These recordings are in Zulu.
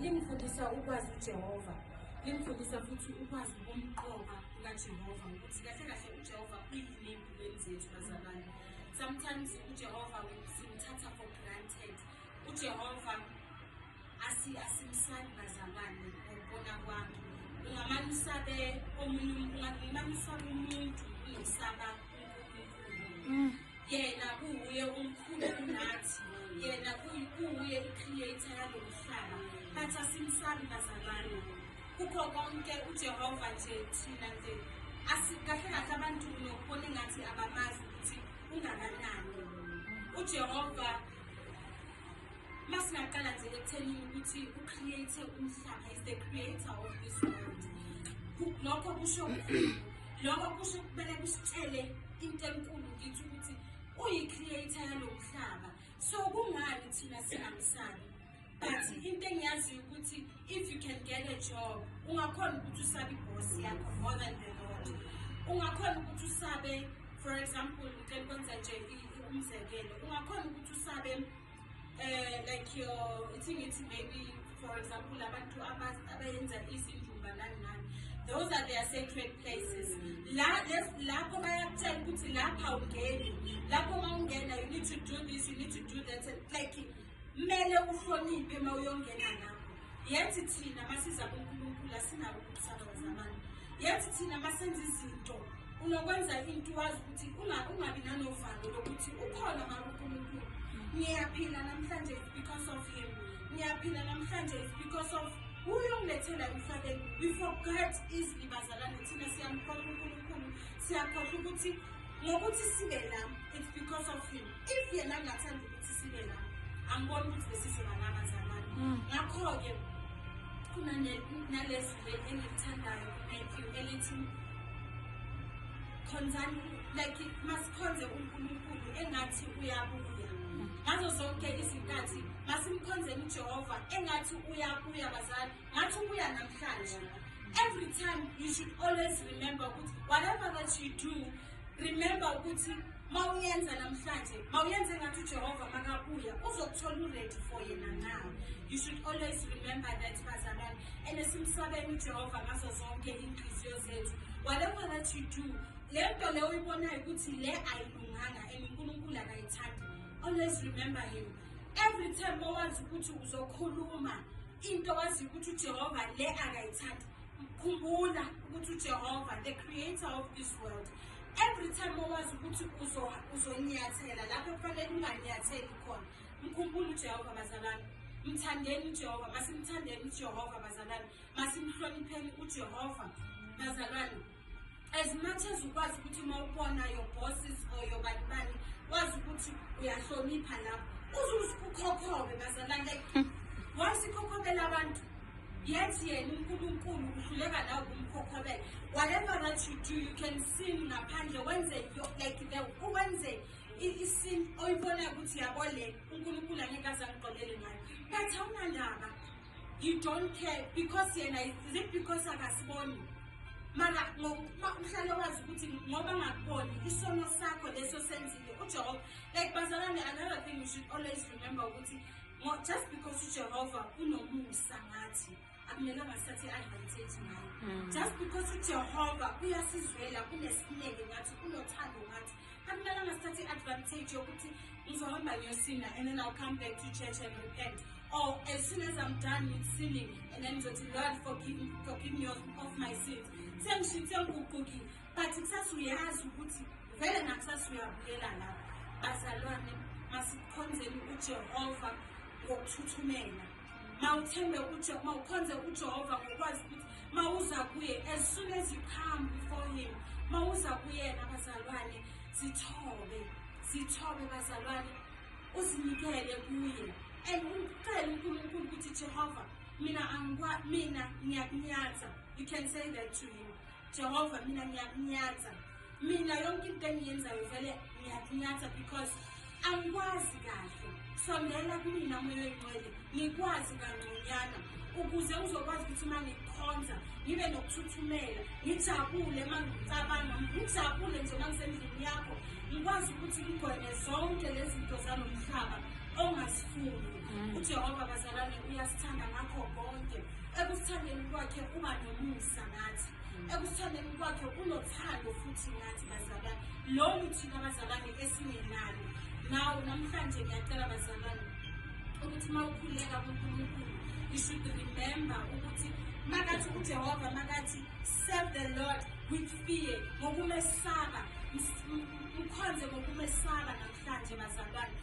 Lingifundisa ukwazi uJehova. Lingifundisa futhi ukwazi ukumqoka kukaJehova ukuthi kahle kahle uJehova uyini empilweni zethu bazalwane. Sometimes uJehova simthatha for granted. UJehova asimsali bazalwane ngokubona kwami. Ungamane usabe omunye ungamane usabe umuntu unosaba yena kuwuye umkhulu kunathi yena kuwuye i-creator yalo mhlaba bathi asimsabi bazalwane kukho konke ujehova nje thina nje kahle kahle abantu nokubona engathi abamazi ukuthi ungakanani ujehova uma singaqala nje ekuthenini ukuthi ucreate umhlaba is the creator of this world lokho kusho lokho kusho kumele kusitshele into enkulu ngithi ukuthi uyi-creator yalo mhlaba so kungani thina singamsabi but into engiyaziyo ukuthi if you can get a job ungakhona ukuthi usabe iboss yakho more than the lord ungakhona ukuthi usabe for example ngicela ukwenza nje umzekelo ungakhona ukuthi usabe eh like your ithi ngithi maybe for example abantu abayenza izindumba nani nani those are their sacred places la lapho bayakutshela ukuthi lapha ungeni lapho uma ungena you need to do this you need to do that like Kumele uhloniphe uma uyongena ngakho. Yethi thina masiza kuNkulunkulu asinabo ukusaba zamani. Yethi thina masenza izinto unokwenza into wazi ukuthi ungabi nanovalo lokuthi ukhona mara uNkulunkulu. Ngiyaphila namhlanje because of him. Ngiyaphila namhlanje because of uyongilethela emhlabeni we forget easily bazalane thina siyamkhohlwa unkulunkulu siyakhohlwa ukuthi ngokuthi sibe la it's because of him if yena angathanda ukuthi sibe la angibona ukuthi besizoba la bazalwane mm. ngakho-ke kunanalezi engilithandayo matthew elithi khonzani like masikhonze unkulunkulu engathi uyabuya ngazo zonke izinkathi masimkhonzeni ujehova engathi uyabuya bazali ngathi ubuya namhlanje every time you should always remember ukuthi whatever that you do remember ukuthi mawuyenza namhlanje mawuyenze ngathi ujehova makabuya uzokuthola uready for yena na you should always remember that bazalwane and simsabele ujehova ngazo zonke iy'nhliziyo zethu whatever that you do le nto le uyibonayo ukuthi le ayilunganga and unkulunkulu akayithandi always remember him every time owazi ukuthi uzokhuluma into wazi ukuthi ujehova le akayithandi Khumbula ukuthi uJehova the creator of this world every time owazi ukuthi uzonyathela lapho kufanele unganyatheli khona mkhumbule ujehova bazalwane mthandeni ujehova masimthandeni ujehova bazalwane masimhlonipheni ujehova bazalwane as much as ukwazi ukuthi uma ubona your bosses or your bani bani wazi ukuthi uyahlonipha lapho uzuze ukhokhobe bazalwane like hmm. once ikhokhobela abantu yet yena unkulunkulu uhluleka nawe kumkhokhobela whatever that you do you can sin ngaphandle wenze like the wenze isin oyibonayo ukuthi yabo le unkulunkulu angeke azangigqolele ngayo but awunandaba you don't care because yena is it because akasiboni mara ngokuba uhlale wazi ukuthi ngoba ngakuboni isono sakho leso senzile ujehova like bazalwane another thing you should always remember ukuthi just because ujehova unomusa ngathi akumelanga sithathe i-advantage ngayo hmm. just because ujehova uyasizwela unesineke ngathi unothando ngathi akumelanga sithathe i-advantage yokuthi ngizohamba ngiyosinda and then i'll come back to church and repent or as soon as i'm done with sinning and then ngizothi lord forgive, forgive me of, of my sins sengishithe ngiguqukile but kusasa uyazi ukuthi vele nakusasa uyabuyela lapho bazalwane masikhonzeni ujehova ngokuthuthumela mawuthembe uJehova mawukhonze uJehova ngokwazi ukuthi mawuza kuye as soon as you come before him mawuza kuyena bazalwane zithobe zithobe bazalwane uzinikele kuye and ucele uNkulunkulu ukuthi Jehova mina angikwa mina ngiyakunyatha you can say that to him Jehova mina ngiyakunyatha mina yonke into engiyenzayo vele ngiyakunyatha because angikwazi kahle sondela kumina moya oyingcwele ngikwazi kangconyana ukuze uzokwazi ukuthi uma ngikhonza ngibe nokuthuthumela ngijabule uma ngicabanga ngijabule nje uma ngisendlini yakho ngikwazi ukuthi ngigweme zonke lezi zinto zalo mhlaba ongasifuni mm. ujehova bazalwane uyasithanda ngakho konke ekusithandeni kwakhe uba nomusa nathi ekusithandeni kwakhe unothando futhi nathi bazalwane lolu thina abazalwane esingenalo nawo namhlanje ngiyacela bazalwane ukuthi uma ukhuleka kunkulunkulu you should remember ukuthi makathi ujehova makathi serve the lord with fear ngokumesaba mkhonze ngokumesaba namhlanje bazalwane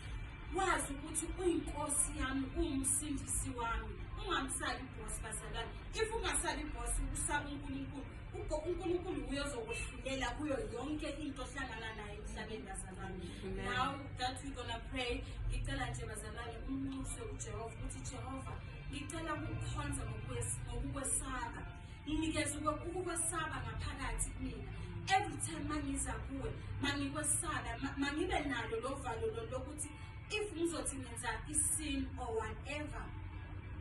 wazi ukuthi uyinkosi yami uwumsindisi wami ungamsali ibhosi bazalwane if ungasali ibhosi usaba unkulunkulu unkulunkulu uye ozokwehlulela kuyo yonke into ohlangana nayo emhlabeni bazalwane now that we gonna pray ngicela nje bazalwane umnxuse ujehova ukuthi jehova ngicela ukukhonza ngokukwesaba nginikeza ukukwesaba ngaphakathi kumina every time mangiza kuwe mangikwesaba mangibe nalo lo valo lo lokuthi if ngizothi ngenza isin or whatever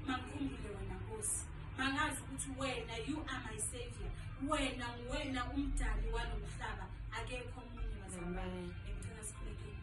mangikhumbule wena nkosi mangazi ukuthi wena you are my savior wena nguwena umdali walo mhlaba akekho omunye mazamane ngicela sikhulekeni